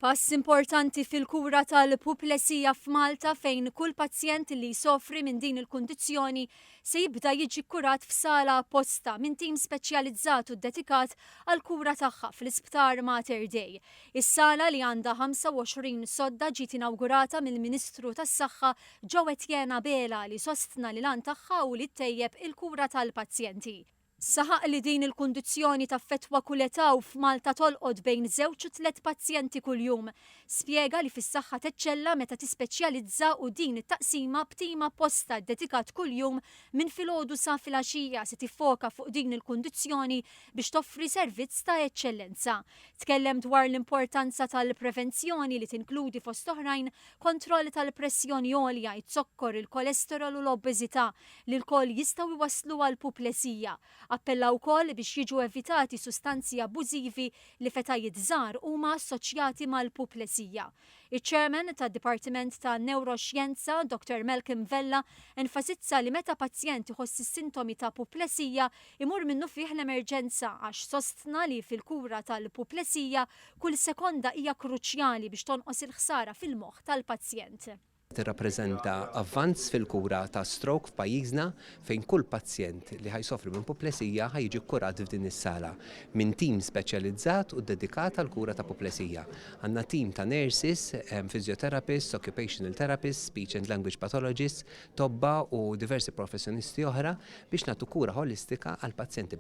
Pass importanti fil-kura tal-puplesija f'Malta fejn kull pazjent li jsofri minn din il-kundizzjoni se jibda jiġi kkurat f'sala apposta minn tim speċjalizzat u ddedikat għall-kura tagħha fl-Isptar Mater Dei. Is-sala li għandha 25 sodda ġiet inawgurata mill-Ministru tas-Saħħa Joe Etienne Abela li sostna li l-għan tagħha hu li ttejjeb il-kura tal-pazjenti. Saħaq li din il-kundizzjoni taffettwa kull età u f'Malta tolqot bejn żewġ u tliet pazjenti kuljum. Spjega li fis-saħħa teċċella meta tispeċjalizza u din it-taqsima b'tim apposta ddedikat kuljum minn filgħodu sa filgħaxija se tiffoka fuq din il-kundizzjoni biex toffri servizz ta' eċċellenza. Tkellem dwar l-importanza tal-prevenzjoni li tinkludi fost oħrajn kontroll tal-pressjoni għolja, iz-zokkor, il-kolesterol u l-obeżità li lkoll jistgħu jwasslu għal puplesija. Appella wkoll biex jiġu evitati sustanzi abbużivi li f'etajiet żgħar huma assoċjati mal-puplesija. Iċ-Chairman tad-Dipartiment ta' Newroxjenza, Dottor Malcolm Vella, enfasizza li meta pazjent iħoss is-sintomi ta' puplesija, imur minnufih l-emerġenza għax sostna li fil-kura tal-puplesija kull sekonda hija kruċjali biex tonqos il-ħsara fil-moħħ tal-pazjent. tirrappreżenta avvanz fil-kura ta' stroke f'pajjiżna fejn kull pazjent li ħa jsofri minn puplesija ħa jiġi kkurat f'din is-sala minn tim speċjalizzat u ddedikat għall-kura ta' puplesija. Għandna tim ta' nurses, physiotherapists, occupational therapists, speech and language pathologists, tobba u diversi professjonisti oħra biex nagħtu kura ħolistika għall-pazjenti.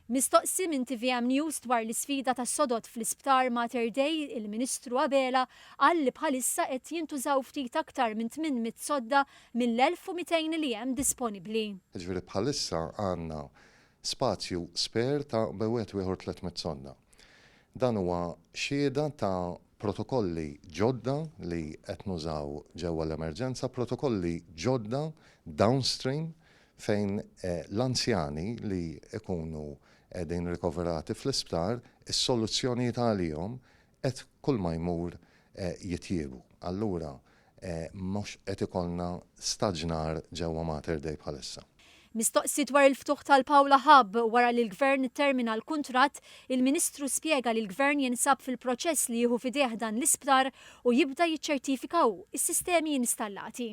Mistoqsi minn tvm News dwar l-isfida tas-sodod fl-Isptar Mater Dei, il-Ministru Abela qal li bħalissa qed jintużaw ftit aktar minn 800 sodda mill-1,200 li hemm disponibbli. Jiġifieri bħalissa għandna spazju spare ta' bejn wieħed u ieħor 300 sodda. Dan huwa xhieda ta' protokolli ġodda li qed nużaw ġewwa l-emerġenza, protokolli ġodda downstream fejn l-anzjani li jkunu qegħdin rikoverati fl-isptar, is-soluzzjonijiet għalihom qed kull ma jmur jitjiebu. Allura mhux qed ikollna staġnar ġewwa Mater Dei bħalissa. Mistoqsi dwar il-ftuħ tal-Paula Hub wara li l-Gvern ittermina l-kuntratt, il-Ministru spjega li l-Gvern jinsab fil-proċess li jieħu f'idejh dan l-isptar u jibda jiċċertifika hu s-sistemi installati.